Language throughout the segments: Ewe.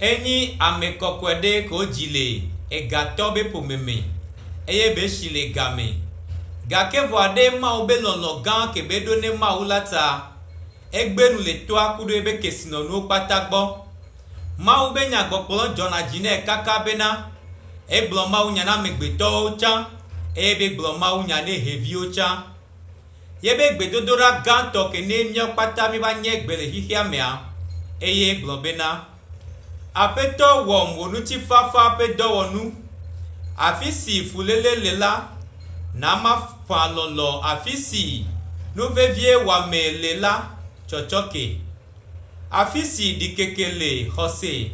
Enyi ame kɔkɔe ɖe ke wodzi le egatɔ be ƒome me, eye be si le ga me. Gake vɔa ɖe Mawu be lɔlɔ̃ gã ke be eɖo ne Mawu la ta, egbe nu le toa kuɖo ebe kesinɔnuwo kpata gbɔ. Mawu be nyagbɔgblɔ dzɔna dzi nɛ kaka bena, egblɔ Mawu nya na amegbetɔwo tsã, eye be gblɔ Mawu nya ne heviwo tsã. Ye be gbedodoɖa gãtɔ ke nɛ míawo kpata míva nye gbe le xixeamea, eye gblɔ bena, Aƒetɔ wɔm wò ŋutifafa ƒe dɔwɔnu. Afisi fuléle le la, na maƒã lɔlɔ̃ afisi nuvevie wɔamee le la tsɔtsɔke. Afisi ɖikeke le, xɔse.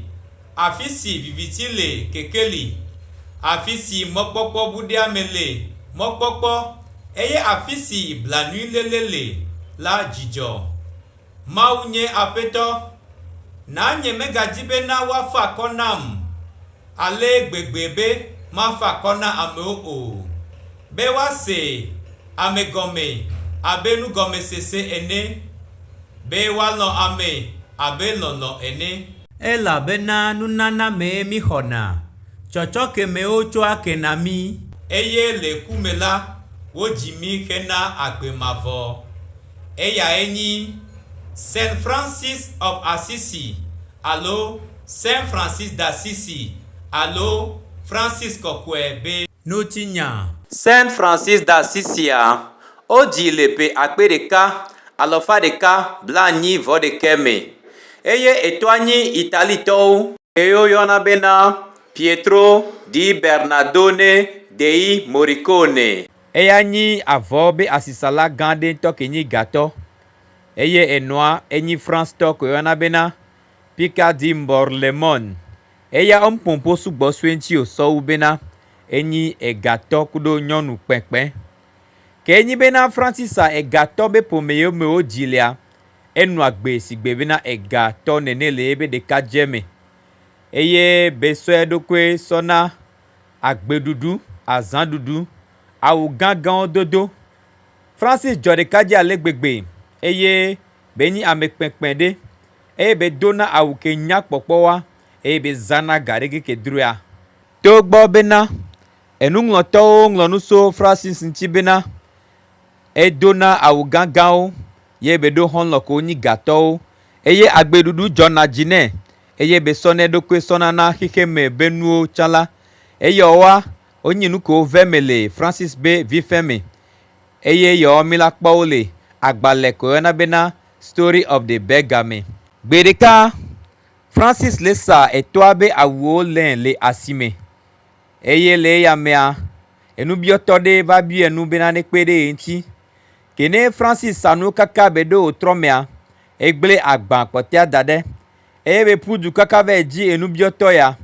Afi si viviti le, keke li, afi si mɔkpɔkpɔ buɖeame le, mɔkpɔkpɔ, eye afi si blanuiléle le la, dzidzɔ. Mawu nye Aƒetɔ. Na nyemegadi bena woafa akɔ nam ale gbegbe be mafa akɔ na amewo o. Be woasee ame gɔmee abe nugɔmesese ene, be woalɔ̃ amee abe lɔlɔ̃ ene. Elabena nunana mee míxɔna, tsɔtsɔke mee wotsoa ke na mí. Eye le ku me la, wodzi mí hena agbe mavɔ. Eyae nyi Saint Francis of Assisi, alo Saint Francis d'Assisi, alo Francis Kɔkɔe be. ŋutinyaa. Saint Francis d'Assisia, wodzii le ƒe akpe ɖeka, alɔfa ɖeka, blaenyi vɔ ɖekɛ me, eye etɔa nyi Italitɔwo. Ye woyɔna bena Pietro di Bernadone dei Morricone. Eya nyi avɔ be asisala gã ɖe ŋutɔ ke nyi Gatɔ, eye enɔa enyi Francetɔ ke woyɔna bena Picardie Mborlemon, Eya omkpompo sugbɔ sue ŋtsi o sɔwu bena enyi ega tɔ kuɖo nyɔnu kpɛkpɛ. Ke enyi bena Francisa ega tɔ be pomɛyeo me wo dzi lea, enua gbe sigbe bena ega tɔ nɛnɛ le yebe ɖeka dje me. Eye be sɔ eɖokoe sɔ na agbe ɖuɖu, azã ɖuɖu, awu gã gãwo dodo. Francis djɔ ɖeka dji ale gbegbe eye be nyi ame kpɛkpɛ ɖe. eye bedona awu ke nya kpɔkpɔwa eye bezana ga ɖe keke droea. Togbɔ bena enuŋlɔtɔwo ŋlɔ nu so Fransisi ŋuti bena, Edona awu gãgãwo ye beɖo xɔlɔ̃ ko nyi ga tɔwo, eye agbeɖuɖu dzɔna dzi nɛ eye besɔna eɖokui sɔna na xexeme be nuwo tsã la, eyɔwoa wonyi nu ko ve me le Fransisi be vifeme eye yɔwo mi la kpɔwo le agbalɛ ko yɔna bena Story of the Beggar me. Gbeɖeka, Francis le sa etɔa be awuwo lé le asime eye le eya mea, enubiɔtɔ ɖe va biɔe nu bena nekpe ɖe ye ŋuti. Ke ne Francis sa nuwo kaka be ɖo wòtrɔ mea, egblẽ agba kpɔtɔea da ɖe eye be ƒu du kaka va edzi enubiɔtɔ ya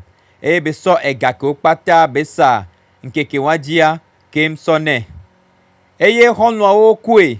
eye be sɔ ega kewo kpata be sa ŋkeke wadzia keŋ sɔ nɛ. Eye xɔlɔ̃awo kue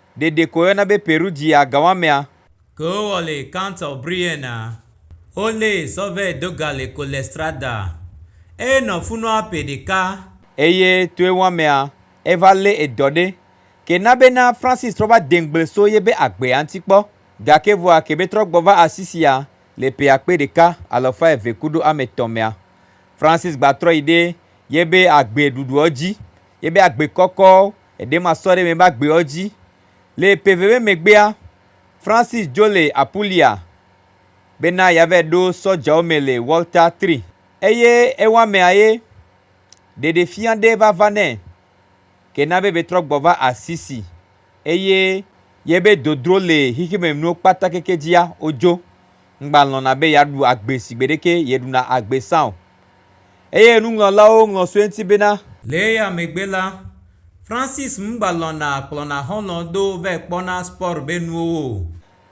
ɖeɖe ko woyɔna be Perugia gawamea. Ke wowɔ le Count of Brienne, wolée sɔ vɛ do ga le Collestrada. Eye nɔ funua ƒe ɖeka. Eye toe wɔamea, eva lé edɔ ɖe. Ke na be na Francis trɔ va de ŋgble so ye be agbea ŋti kpɔ. Gake vɔa ke be trɔ gbɔ va asi sia le ƒe akpe ɖeka, alafa eve kudo ame tɔ mea. Francis gba trɔ yi ɖe ye be agbe ɖuɖuɔ dzi, ye be agbe kɔkɔ. eɖe masɔ ɖe mebe agbeɔ dzi. Le ƒe veve megbea, Francis Jolley Apulia bena yeavae ɖo sɔdjawo me le Walter Tree, eye ewɔamea ye ɖeɖefia ɖe va va nɛ ke na be betrɔ gbɔ va Assisi, eye yebe dodro le xexemenuwo kpata keke dzia, wodzo. ŋgbalɔ̃na be yeaɖu agbe si gbeɖeke yeɖuna agbe sa o. Eye nuŋlɔlawo ŋlɔ sue ŋuti bena. Le eya megbe la, Francis ŋgbalɔ̃na kplɔna xɔlɔ̃ do vae kpɔna spɔr be nuwo o.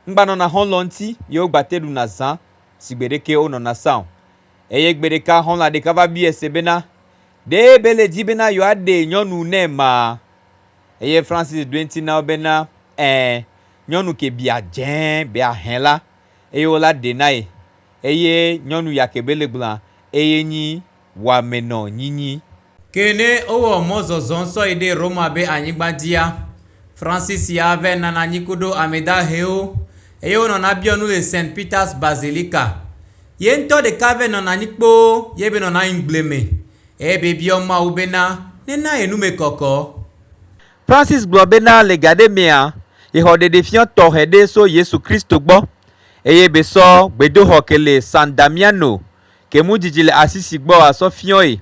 Ŋgbanɔna xɔlɔ̃ ŋuti ye wogbate ɖuna zã si gbeɖeke wonɔna sa o. Eye gbeɖeka xɔlɔ̃a ɖeka va biae se bena, Ɖe bele di bena yewoaɖee nyɔnu nɛ maa? Eye Francis ɖoe ŋuti na wo bena, Ɛ̃, Nyɔnu ke bia dze bea hẽ la, eye wo la ɖe nae, eye nyɔnu ya ke be le gblɔa, eye nyi wɔame nɔ nyinyi. Ke ne wowɔ mɔzɔzɔ sɔyi ɖe Roma be anyigba dzia, Francis ya vɛ nana anyi kuɖo ame dahewo, eye wonɔ na biɔ nu le Saint Peter's Basilica. Ye ŋutɔ ɖeka vɛ nɔna anyi kpoo ye be nɔna anyi gble me, eye be biɔ Mawu be na ne na ye nu me kɔkɔ. Francis gblɔ bena le gaɖe mea, yexɔ ɖeɖefiɔ tɔxɛ ɖe so Yesu Kristo gbɔ, eye be sɔ gbedoxɔ ke le San Damiano ke mu didi le Assisi gbɔ a sɔ fiɔe,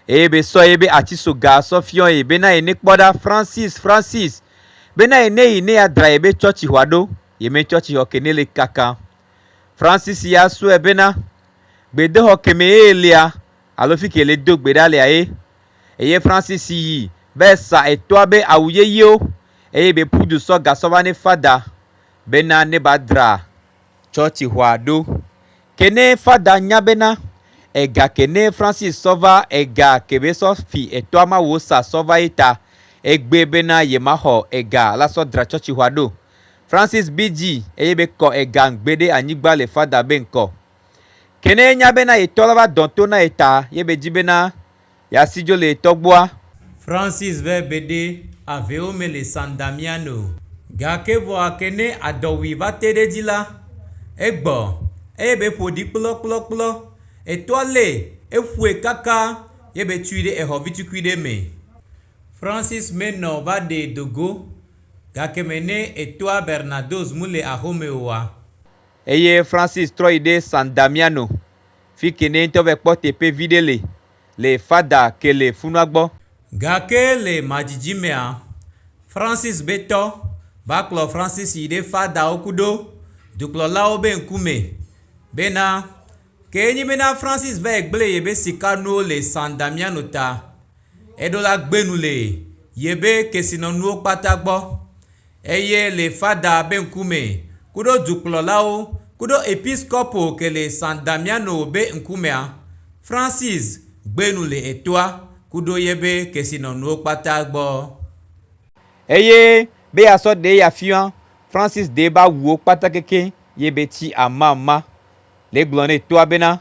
eye be sɔ yebe atsiso ga a sɔ fiɔe bena ye ne kpɔ ɖa Francis, Francis, bena ye ne yi ne ya dra yebe tsɔtsixɔa ɖo, yeme tsɔtsixɔ ke ne le kaka. Francis ya sɔe bena, gbedoxɔ keme ye lea, alo fike le do gbe ɖa lea ye. eye Francis yi be sa etoa be awu yeyeo eye be pudu sɔ gasɔ va ne fada bena ne ba dra tsɔtsi xɔa ɖo ke ne fada nya bena ega ke ne Francis sɔ va ega ke be sɔ fi etoa ma wo sa sɔ va ye ta egbe bena ye ma xɔ ega la sɔ dra tsɔtsi xɔa ɖo Francis bi dzi eye be kɔ ega ŋgbe ɖe anyigba le fada be ŋkɔ. Ke ne yenya bena ye tɔ la va dɔ to na ye ta ye be dzi bena ya si dzo le ye tɔ gbɔa. Francis vɛ beɖe avɛwo me le San Damian o. Gake vɔa ke ne adɔwui va te ɖe edzi la, egbɔ eye be ƒo ɖi kplɔkplɔkplɔ. Etɔa le eƒoe kaka ye be tui ɖe exɔ vitukui ɖe me. Francis me nɔ va ɖe dogo gake me ne etɔa Bernadoz mu le axome oa. Eye Francis trɔ yi ɖe San Damiano, fike nɛ ŋutɔ vɛ kpɔ teƒe viɖe le, le Fada Kele funua gbɔ. Gake le madzidzi mea, Francis be tɔ va kplɔ Francis yi ɖe Fadawo kuɖo dukplɔlawo be ŋkume, be na, ke enyi be na Francis va yi gble yebe sika nuwo le San Damiano ta, eɖo la gbe nu le yebe kesinɔnuwo kpata gbɔ. Eye le fada be ŋkume, kuɖo dukplɔlawo, kuɖo episkopo ke le San Damiano be ŋkumea, Francis gbe nu le etoa, kuɖo ye be kesinɔnuwo kpata gbɔ. Eye be yeasɔ ɖe ye afia, Francis de ye be awuwo kpata keke ye be tsi amama, le gblɔ ne etoa bena,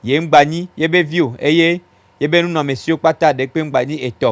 Ye ŋgba nyi ye be vi o, eye ye be nunɔamesiwo kpata ɖekpe ŋgba nyi etɔ.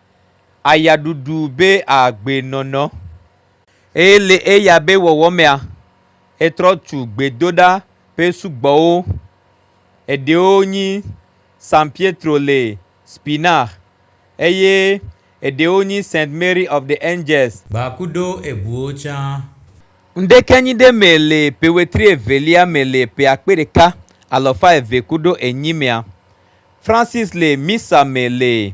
Aya ɖuɖu be a gbe nɔnɔ. Eye le eya be wɔwɔ mea, e trɔ tu gbedoɖa ƒe sugbɔwo. Eɖewo nyi San Pietro le Spinach, eye eɖewo nyi Saint Mary of the Angels. Ba kudo ebuwo tsã. Ŋɖekenyi ɖe me le ƒe wetri evelia me le ƒe akpe ɖeka alafa eve kudo enyi mea, Francis le Missa me le.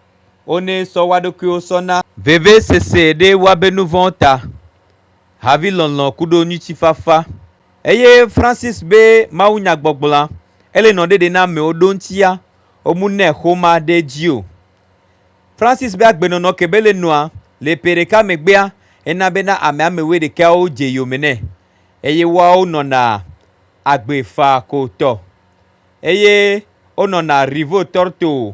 Wonɛ sɔ woaɖokuiwo sɔ na. Vevesese ɖe woabe nuvɔ̃wo ta, havilɔlɔ̃ kuɖo nyuitsifafa. Eye Francis be mawunyagbɔgblɔa ele nɔ ɖeɖe na amewo ɖo ŋtsia womu nɛ xoma ɖe dzi o. Francis be agbenɔnɔ ke be le nɔa le ƒe ɖeka megbea ena be na ame ame wuiɖekɛawo dze yome nɛ eye woawo nɔna agbe faa ko tɔ eye wonɔna Rivo Torto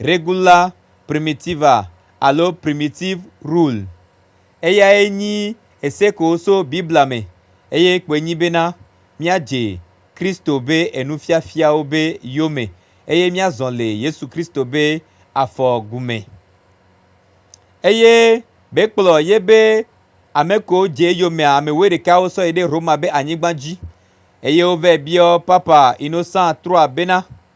Regula primitiva alo primitive rule. Eyae nyi esekoo so Biblia me eye kpoe nyi bena míadze Kristo be enufiafiawo be yome eye míazɔ le Yesu Kristo be afɔ gume. Eye be kplɔ ye be ameko dze eyomea ame wuiɖekawo sɔ yi ɖe Roma be anyigba dzi eye wovɛ biɔ Papa Innocent iii bena,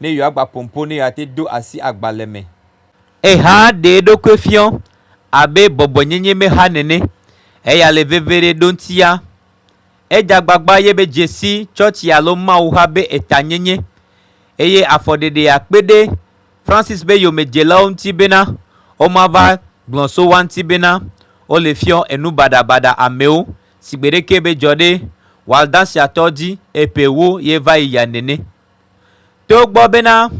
ne yewoagba pompo ne yewoate do asi agbalẽ me. Ehea ɖe eɖokui fiɔ abe bɔbɔenyenye mexa nene, eya le veviɖe ɖoŋtia. Ede agbagba ye be dzesi tsɔtsi alo Mawu xa be etanyenye, eye afɔɖeɖe akpe ɖe Francis be yomedzelawo ŋuti bena womava gblɔ so woa ŋuti bena wole fiɔ enu baɖabaɖa amewo si gbeɖeke medzɔ ɖe Waldensiatɔwo dzi eƒe ewo ye va yi ya nene. Togbɔ bena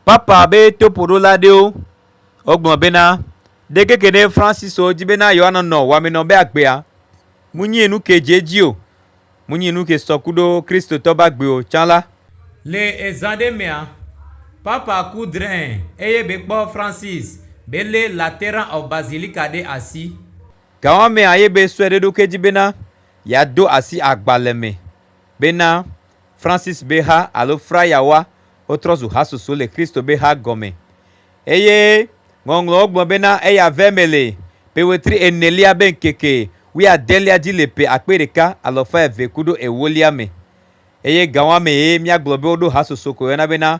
Papa be toƒoɖola aɖewo wogblɔ bena ɖekeke ɖe Francisco di bena yewoanɔnɔ wɔmenɔ be agbea munyi nu ke dze edzi o, munyi nu ke sɔ ku ɖo Kristotɔ be agbe o tsã la, Le ezã aɖe mea, Papa ku drẽ eye bekpɔ Francis be lé Lateran of Basilica ɖe asi. Gawɔamea ye be sue ɖe eɖokui dzi bena yeado asi agbalẽ me bena Francis be ha alo frayawoa wotrɔ zu hasoso le Kristo be ha gɔme eye Ŋɔŋlɔwo gblɔ bena eya vɛ me le ƒe wetri enelia be ŋkeke wuiadelia dzi le ƒe akpe ɖeka alafa eve kuɖo ewolia me. Eye gawãmee míagblɔ be woɖo hasoso koyɔna bena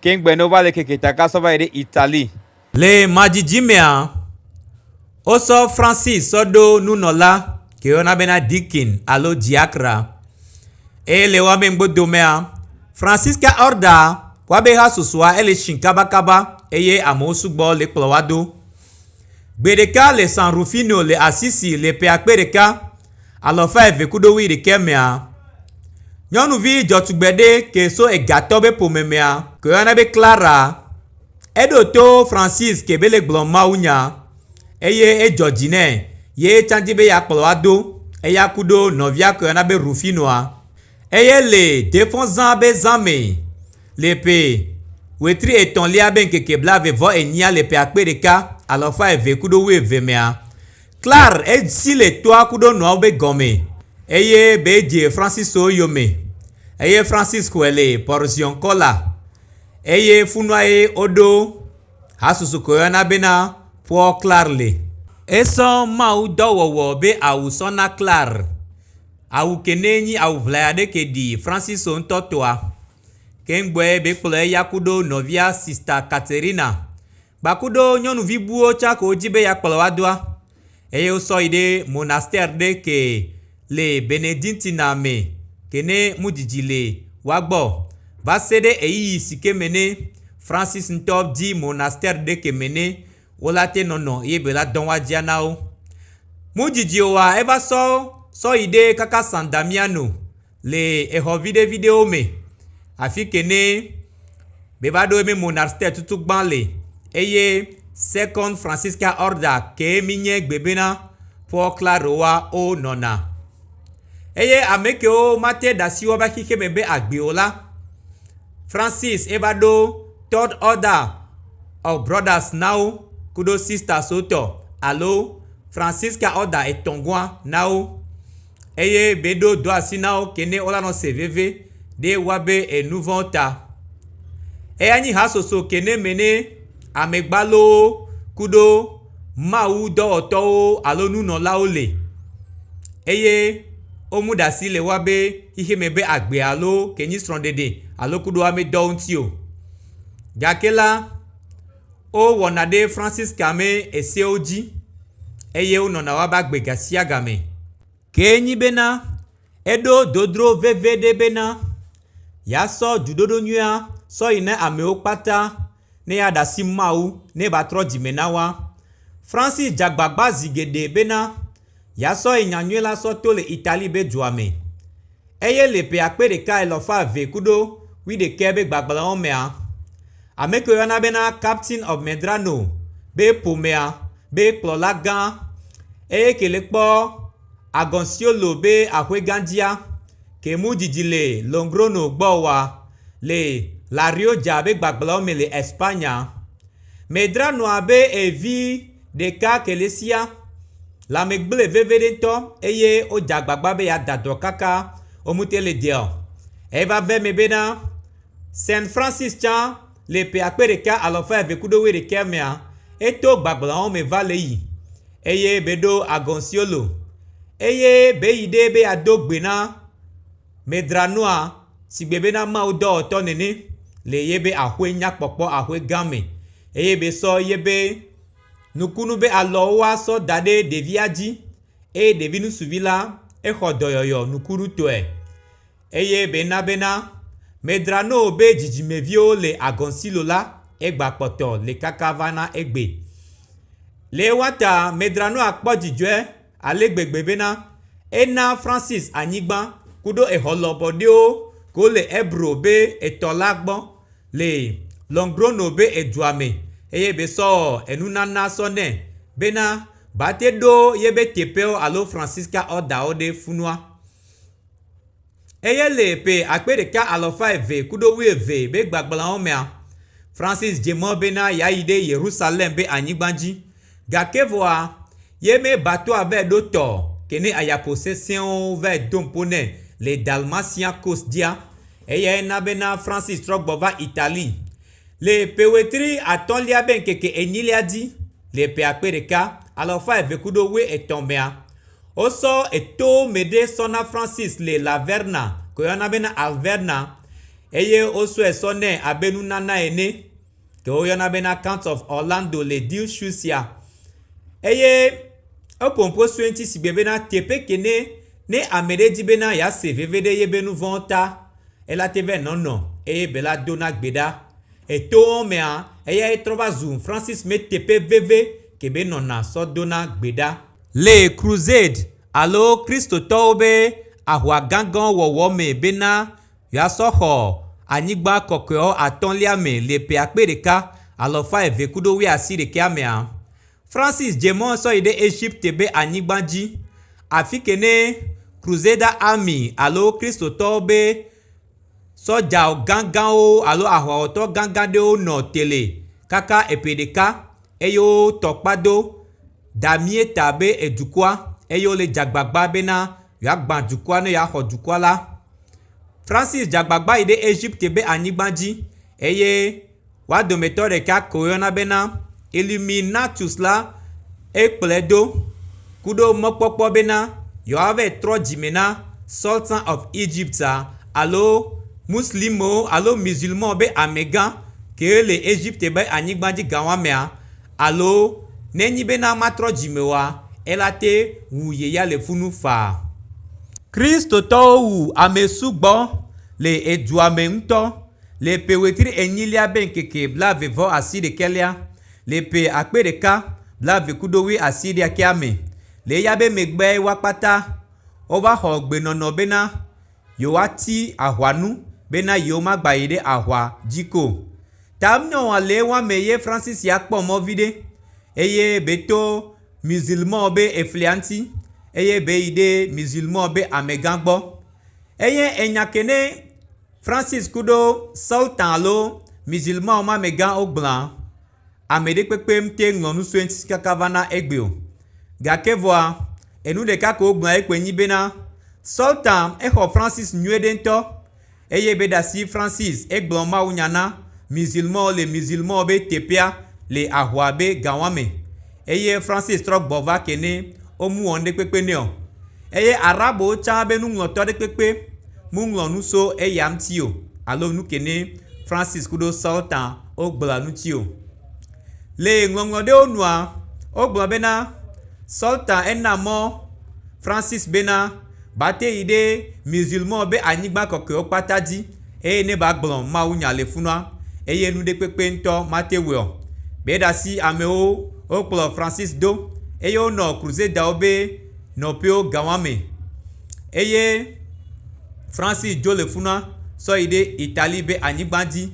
Kengbe ne wova le keke ta ka sɔ va yi ɖe Italie. Le madzidzi mea, wosɔ Francis sɔ ɖo nunɔla ke woyɔna bena deacon alo diakra. Eye le woame ŋgbo domea, Francisca Orda kpɔa be hasusua ele tsi kabakaba eye amewo sugbɔ le kplɔ wa do. Gbe ɖeka le San Rufino le Assisi le ƒe akpe ɖeka. alafa eve kuɖo wuiɖekɛ mea, nyɔnuvi dzɔtugbe ɖe ke so egatɔ be ƒome mea ke woyɔna be Clara. Eɖo to Francis ke be le gblɔ mawunya eye edzɔ dzi nɛ ye etsã di be yeakplɔ wo ado eya kuɖo nɔvia ke woyɔna be Rufinoa eye le deƒɔ zã be zã me le ƒe wetri etɔ̃lia be ŋkeke blaeve vɔ enyia le ƒe akpe ɖeka alafa eve kuɖo wuieve mea, Klar edzi le toa kuɖo nɔawo be gɔme eye be dje Francis so eyome eye Francis xɔe le Porzion Kɔla eye funuae oɖo hasusu ke woyɔna bena Poor Klar le. Esɔ Mawu dɔ wɔwɔ be awu sɔ na Klar. Awu ke ne nyi awu ʋlaya ɖe ke ɖi Francis so ŋtɔ toa. Ke ŋgbɔe be kplɔ eya kuɖo nɔvia Sista Katerina Kpakuɖo nyɔnuvi buwo tsɛ ko wodzi be yeakplɔ wo adoa eye wosɔ yi ɖe monastɛr ɖe ke le Benediktina me ke ne mudidi le woa gbɔ o va se ɖe ɣeyiɣi si ke me ne Fransis ŋutɔ di monastɛr ɖe ke me ne wo la te nɔnɔ eye be la dɔ woadzia na wo. Mudidi oa eva sɔ sɔ yi ɖe kaka San Damiano. le exɔ viɖeviɖewo me afi ke ne meva ɖo ebe monasitɛa tutu gba le eye sekɔn fransisika ɔrda kee mi nye gbe be na Pɔl Kladoa wonɔna. Eye ame kewo mate ɖe asi woƒe xixe me be agbe o la, Fransis eva ɖo tɔd ɔda ɔ brɔdas na wo kuɖo sistaswo tɔ alo fransisika ɔda etɔ̃ gɔ̃a na wo. eye beɖo do asi na wo kene wo la nɔ se veve ɖe wa be enu vɔ ta eya nyi ha soso kene me ne ame gbalowo kuɖo mawu dɔwɔtɔwo alo nunɔlawo le eye wo mu ɖa si le wa be xexe me be agbe alo ke nyi srɔ ɖeɖe alo kuɖo ame dɔwo ŋti o gake la Wowɔna ɖe Francisca me eseawo dzi eye wonɔna woƒe agbe ga sia ga me. Kee nyi bena, eɖo dodro veve ɖe bena, yeasɔ dziɖoɖo nyuia sɔ yi na amewo kpata ne yeaɖe asi Mawu ne eva trɔ dzime na woa. Francis dze agbagba zi geɖe bena, Ya sɔyi nyanyuie la sɔ to le Italie be dua me. Eye le ƒe akpe ɖeka elɔfa eve kuɖo wuiɖekɛ be gbagblẽwo mea, ameke woyɔna bena Captain of Medrano be ƒomea be kplɔla gã, eye ke le kpɔ Agonciolo be aƒe gã dzia, ke mu didi le Longrono gbɔ wa, le La Rioja be gbagblẽwo me le España. Medra nɔ abe evi ɖeka kelesia, lãme gblẽ vevieɖe ŋutɔ eye wodze agbagba be yeada dɔ kaka wo ŋuti le deɔ. Eva ve eme bena, Saint Francis tsã le ƒe akpe ɖeka alafa eve kple wuiɖekɛ mea, eto gbagblãwo me va le yi eye be ɖo Agonciolo eye be yi ɖee be yeado gbe na. Medra nua sigbe bena Mawu dɔwɔtɔ nene le yebe axoe nya kpɔkpɔ axoe gã me, eye be sɔ yebe nukunu be alɔwo wa sɔ da ɖe ɖevia dzi, eye ɖevi nusuvi la exɔ dɔyɔyɔ nukunu tɔe. Eye be na bena Medra noo be dzidzime viwo le agɔnsilo la egba kpɔtɔ le kaka va na egbe. Le ewa ta Medra nua kpɔ dzidzɔe ale gbegbe bena ena Francis anyigba kuɖo exɔ lɔbɔ ɖewo ko le Ebro be etɔ la gbɔ le Logrono be edua me eye be sɔ enunana sɔ nɛ bena bate ɖo yebe teƒewo alo Francisca Order-wo ɖe funua. Eye le ƒe akpe ɖeka alafa eve kuɖo wuieve be gbagblawo mea, Francis dze mɔ bena yeayi ɖe Yerusalem be anyigba dzi. Gake vɔa, ye me Bartoa vae ɖo tɔ ke ne ayapo sesẽwo vae do ŋpo nɛ le Dalmatia Coast dzia. Eyae na bena Francis trɔ gbɔ va Italie. Le ƒe wetri atɔ̃lia be ŋkeke enyilia dzi le ƒe akpe ɖeka, alafa eve kuɖo wue etɔ̃ mea, wosɔ eto me ɖe sɔ na Francis le La Verna, ke woyɔna be na Alverna, eye wosɔe sɔ nɛ abe nunana ene, ke woyɔna be na Counts of Orlando le Deal Shoes ya. Eye eƒo ŋkɔ sue ŋuti sigbe bena teƒe kene ne ame ɖe di bena yease veve ɖe yebe nuvɔ̃wo ta, Ela te vɛ nɔnɔ eye Bella dona gbe ɖa. Etowo mea, eyae trɔ va zu Francis me teƒe veve kebe nɔna sɔ dona gbe ɖa. Le Crusade alo Kristotɔwo be ahwa gãgãwo wɔwɔ me bena yewoasɔ xɔ anyigba kɔkɔeawo atɔ̃lia me le ƒe akpe ɖeka, alɔfa eve kuɖo wuiasiɖekɛa mea, Francis dze mɔ sɔ yi ɖe Egipte be anyigba dzi, afi ke ne Crusader Army alo Kristotɔwo be sɔdja gãgãwo alo aʋawɔtɔ gãgã ɖewo nɔ tele kaka eƒe ɖeka eye wo tɔ kpa do da mía ta be edukɔa eye wole dze agbagba bena yewoagbã dukɔa ne yewoaxɔ dukɔa la. Francis dze agbagba yi ɖe Egipte be anyigba dzi eye. Woa dometɔ ɖeka ke woyɔna bena Illuminatus la ye kplɔe do ku ɖo mekpɔkpɔ bena yewoava trɔ dzime na Sultan of Egypt alo Muslimwo alo Musulmanwo be amegã kee le Egypte be anyigba dzi gawɔamea alo ne enyi bena matrɔ dzime oa, eya la te wu ye ya le fu nu faa. Kristotɔwo wu ame sugbɔ le edua me ŋutɔ. Le ƒe wetri enyilia be ŋkeke blaeve vɔ asiɖekɛlea, le ƒe akpe ɖeka, blaeve kudo wui asiɖekɛa me, le eya be megbeɛ wa kpata, wova xɔ gbenɔnɔ bena yewoa ti ahwa nu bena yewo ma gba yi ɖe ahwa dzi ko. Tamnyɔa le ewa me ye Francis ya kpɔ mɔ viɖe eye be to Musulmanwo be eflia ŋti eye be yi ɖe Musulmanwo be amegã gbɔ. Eye enyake ne. Francis kuɖo Sultan alo Musulmanwo ma me gã wogblɔa, Ameɖe kpekpe mte ŋlɔ nu soe ŋtsi kaka va na egbe o. Gake vɔa, enu ɖeka ko wogblɔa ye kpoe nyi bena, Sultan exɔ Francis nyuiɖe ŋtɔ, eye be ɖasi Francis egblɔ Mawu nya na Musulmanwo le Musulmanwo be teƒea le ahua be gawã me, eye Francis trɔ gbɔ va ke ne womu wɔ ŋɖe kpekpe nɛ o. Eye Arabowo tsã be nuŋlɔtɔ ɖe kpekpe muŋlɔ nu so eya ŋuti o alo nu ke ne Francis kuɖo Sultan wo gblɔa ŋuti o. Le ŋlɔŋlɔ ɖewo nua, wo gblɔ be na Sultan ena mɔ Francis be na ba te yi ɖe Musulmanwo be anyigba kɔkɔewo kpata dzi eye ne ba gblɔ Mawu nya le funua eye nu ɖe kpekpe ŋutɔ mate wɔe o. Gbeɖasi amewo wo kplɔ Francis do eye wo nɔ Crusaderwo be nɔƒewo gawãme eye Francis dzo le funa sɔ yi ɖe Italie be anyigba dzi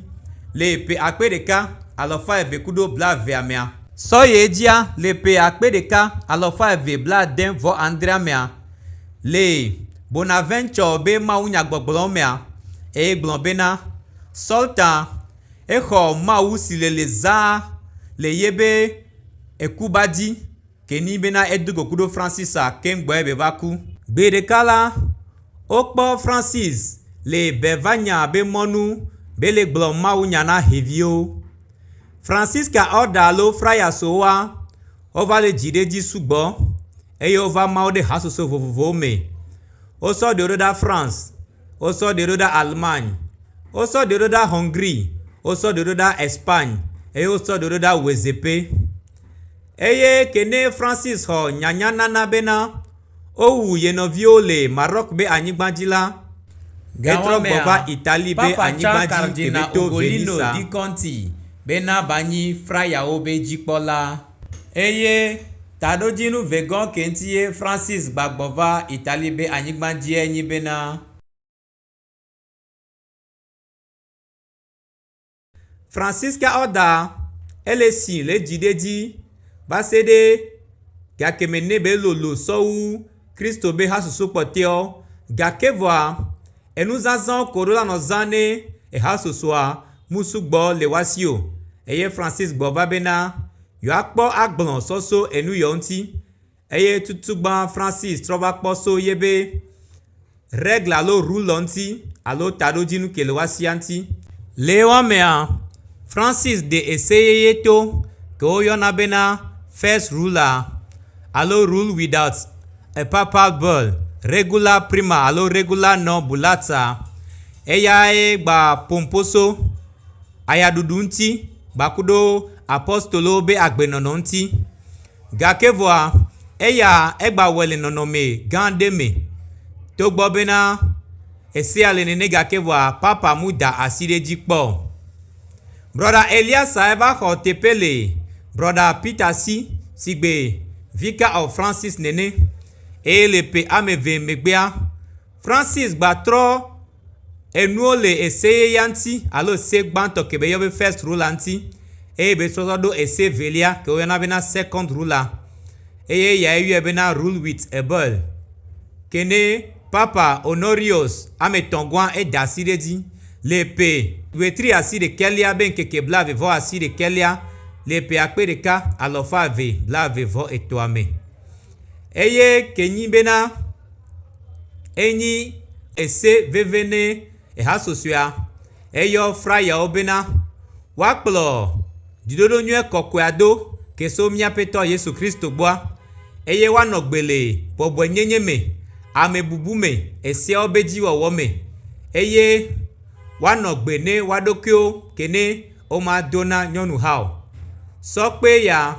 le ƒe akpe ɖeka alafa eve kudo blaevea mea. Sɔ yi edzia le ƒe akpe ɖeka alafa eve blaade vɔ adrea mea, le Bonaventure be mawunyagbɔgblɔwo mea, eye gblɔ bena, Sɔlta, exɔ Mawu si le le zãa le yebe ekuba dzi. ke ni bena edo go kuɖo Francisa keŋ gbɔe be va ku. Gbe ɖeka la, wokpɔ Francis le be va nya be mɔnu be le gblɔ Mawu nya na xeviwo. Francisca Orda alo Fraya Sowa wova le dzi ɖe edzi sugbɔ eye wova ma wo ɖe hasoso vovovowo me. Wosɔ ɖewo ɖo ɖa France. wosɔ ɖewo ɖo ɖa Allemagne, wosɔ ɖewo ɖo ɖa Hɔŋgri, wosɔ ɖewo ɖo ɖa Espagne eye wosɔ ɖewo ɖo ɖa Wezɛpe. Eye ke ne Francis xɔ nyanya nana bena wowu ye nɔviwo le Maroc be anyigba dzi la, etrɔ gbɔ va Italie be anyigba dzi ke be to Venisa. Ugolino di Conti bena va nyi frayawo be dzikpɔla. Eye taɖodzinu vegɔ ke ŋti ye Francis gba gbɔ va Italie be anyigba dzie nyi bena. Francisca Orda ele si le dzi ɖe dzi va se ɖe gake me ne be lolo sɔwu Kristo be hasusu kpɔteɔ gake vɔa. Enu zazã ko ɖo la nɔ zã nɛ eha sosoa mu sugbɔ le wa si o. Eye Francis gbɔ va bena yewoa kpɔ agblɔ sɔ so enu yɔ ŋuti. Eye tutu gbã Francis trɔ va kpɔ so ye be règle alo rule ŋuti alo taɖodzinu ke le wa sia ŋuti. Le ewa mea, Francis ɖe ese yeye to ke wo yɔna bena first ruler alo rule without. A papal bull, regula prima alo regula non bullata, eyae gba Pomposo, ayaɖuɖu ŋuti kpakuɖo apostolowo be agbenɔnɔ ŋuti. Gake vɔa, eya egba wɔe le nɔnɔme gã aɖe me. Togbɔ bena esea le nene gake vɔa, papa mu da asi ɖe edzi kpɔ o. Brɔda Eliasae va xɔ teƒe le Brɔda Peter si, sigbe Vicar of Francis nene, eye le ƒe ameve megbea, Francis gba trɔ enuwo le ese yeyea ŋti alo ese gbãtɔ ke be yɔa be First Ruler ŋti eye be trɔtrɔ ɖo ese velia ke wo yɔna bena Second Ruler eye yae yɔe bena Rule with a Bell. Ke ne Papa Honorius Ametɔ̃gɔa eda asi ɖe edzi le ƒe ɣetriasiɖekɛlia be ŋkeke blaevevɔasiɖekɛlia le ƒe akpe ɖeka alɔfa eve blaeve-vɔ-etɔ̃a me, eye ke nyi bena enyi ese veve ne. Ehasusɔea, eyɔ frayawo bena woakplɔ dziɖoɖo nyuie kɔkɔea do ke so mía Aƒetɔ Yesu Kristo gbɔa, eye woanɔ gbe le bɔbɔenyenye me, amebubu me, eseawobe dzi wɔwɔ me, eye woanɔ gbe ne woaɖokuiwo ke ne woma do na nyɔnu hã o. Sɔ kpee ya,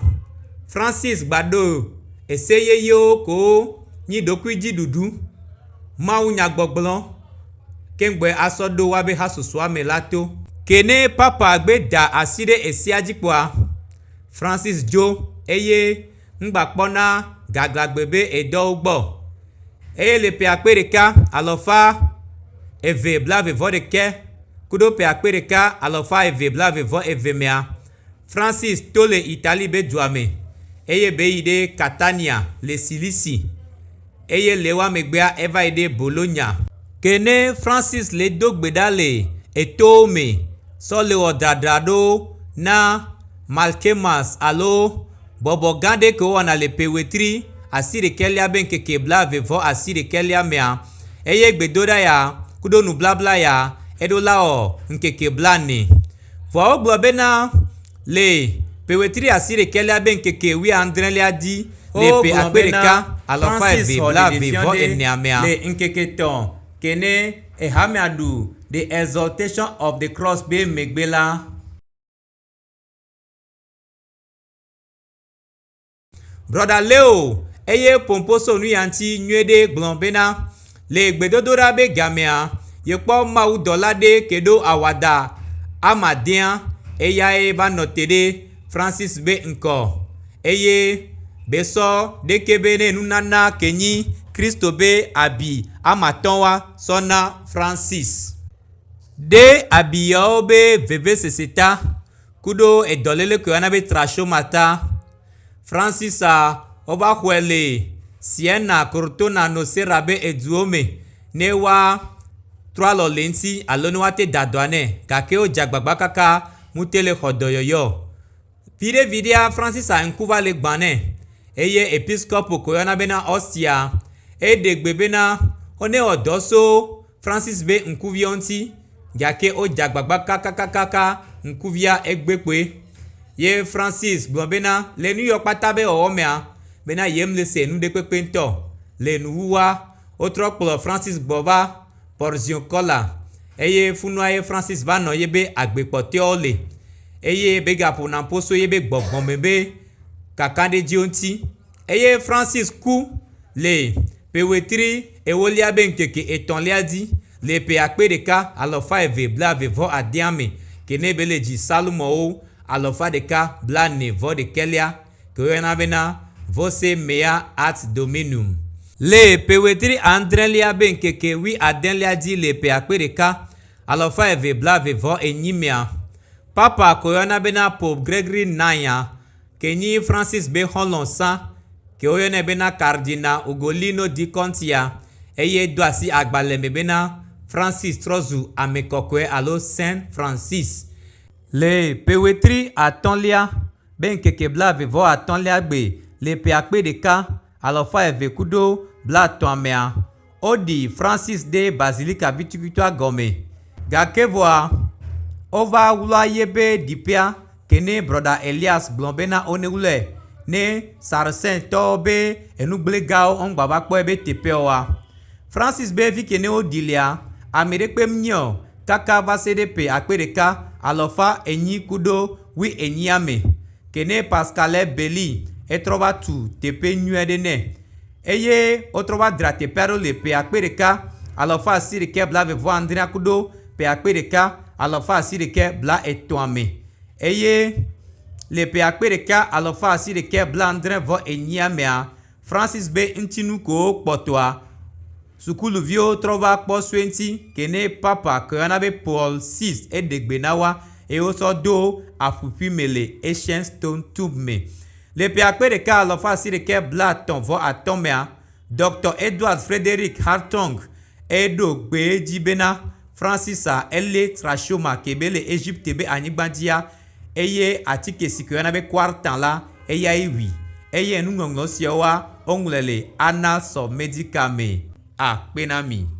Francis gba ɖo ese yeyewo ko nyi ɖokuidziɖuɖu, mawunyagbɔgblɔ, keŋgbɔe asɔ ɖo woabe hasusua me la to. Ke ne Papa gbe da asi ɖe esia dzi kpɔa, Francis dzo eye ŋgbakpɔna gaglãgbe be e dɔ wo gbɔ o. Eye le ƒe akpe ɖeka, alafa eve, blaeve vɔ ɖekɛ kuɖo ƒe akpe ɖeka, alafa eve, blaeve vɔ eve mea, Francis to le Italie be dua me, eye be yi ɖe Catania le Cilicie, eye le ewa megbea eva yi ɖe Bologna. Ke ne Francis le do gbe ɖa le etowo me sɔ le wɔ dradra ɖo na Malkemas alo bɔbɔ gã ɖe ke wo wɔna le ƒe ɣetri asi ɖekɛ lia be ŋkeke blaeve vɔ asi ɖekɛ lia mea, eye gbedoɖa ya kuɖo nublabla ya eɖo la ɔ ŋkeke blanɛ. Vɔa wogblɔ bena, Le ƒe wetri asiɖekɛlia be ŋkeke wuiadrẽlia dzi le ƒe akpe ɖeka, alafa eve blaeve vɔ enea mea, Brɔda Leo eye Pompsonuyati nyuie ɖe gblɔ bena, Le gbedodoɖa be gamea, yekpɔ mawudɔla ɖe ke ɖo awada ama dea, eyae va nɔ te ɖe Francis be ŋkɔ, eye besɔ ɖekɛ be ne nunana ke nyi Kristo be abi ama tɔ̃ wa sɔ na Francis. Ɖe abiyawo be vevesese ta. Kuɖo edɔlele koe ana be trachomata, Fransisa wova xɔe le Siena, Cortona, Nocera be eduwo me ne woa trɔ alɔ le eŋuti alo ne woate da dɔa nɛ gake wodze agbagba kaka ŋute le xɔ dɔyɔyɔ. Viɖe viɖea Fransisa ŋku va le gbã nɛ eye episkopo koe yɔna bena Ɔstia. Eɖe gbe bena, Wonewɔ dɔ so. Francis be ŋkuviawo ŋuti gake wodze agbagba kakakaka ŋkuvia egbe kpoe. Ye Francis gblɔ bena le nuyɔ kpata be wɔwɔ mea, bena yemlese nu ɖekpekpe ŋutɔ o. Le nuwuwua, wotrɔ kplɔ Francis gbɔ va Porziuncola eye funua ye Francis va nɔ yebe agbe kpɔtɔeawo li eye begaƒo naƒo so yebe gbɔgbɔme be kakaɖedziwo ŋuti. eye Francis ku le ƒewetri ewolia be ŋkeke etɔ̃lia dzi le ƒe akpe ɖeka alafa eve blaeve vɔ adea me ke ne be le dzi Psalmowo alafa ɖeka blane vɔ ɖekɛlia ke woyɔna be na Voce mea ad Dominum. Le ƒewetri adrelia be ŋkeke wui adelia dzi le ƒe akpe ɖeka alafa eve blaeve vɔ enyi mea, Papa ke woyɔna be na Pope Gregory IX-a, ke nyi Francis be xɔlɔ̃ sã, ke woyɔnɛ bena Kardina Ugolino di Contia, eye do asi agbalẽ me bena Francis trɔ zu ame kɔkɔe alo Saint Francis. Le ƒe wetri atɔ̃lia be ŋkeke blaeve vɔ atɔ̃lia gbe le ƒe akpe ɖeka, alafa eve kudo blatɔ̃a mea, Woɖi Francis ɖe bazilika vitukvitua gɔme gake vɔa, wova wlɔa yebe ɖiƒea ke ne Brɔda Elias gblɔ bena wonewlɔe ne Saracentɔwo be enugblegawo woŋgbava kpɔe be teƒe oa. Francis be fike ne woɖi lea, ameɖekpe mnye o kaka vaseɖe ƒe akpe ɖeka, alɔfa enyi kuɖo wui enyia me ke ne Pascale Belli etrɔva tu teƒe nyuiɖe nɛ. Eye wotrɔ va dzra teƒea ɖo le ƒe akpe ɖeka, alafa asiɖeke blaeve-vɔ-adrea kudo ƒe akpe ɖeka, alafa asiɖeke blaetɔ̃a me. Eye le ƒe akpe ɖeka, alafa asiɖeke blaadre-vɔ-enyia mea, Francis be ŋtsinu kowo kpɔtɔa, sukuluviwo trɔ va kpɔ sue ŋtsi ke ne Papa ke woyɔna be Paul vi eɖe gbe na woa, eye wosɔ do aƒuƒui me le Ancient Stone Tomb me. Le ƒe akpe ɖeka alafa asi ɖeka blaetɔ̃ vɔ atɔ̃ mea, Dɔkta Edward Frederic Hartung eye ɖo gbe edzi bena Francisa elé trachoma ke be le Egypte be anyigba dzia eye atike si ke woyɔna be quartan la eyae wui eye enuŋɔŋlɔ siawoa woŋlɔe le Annals of Medical me akpe na mi.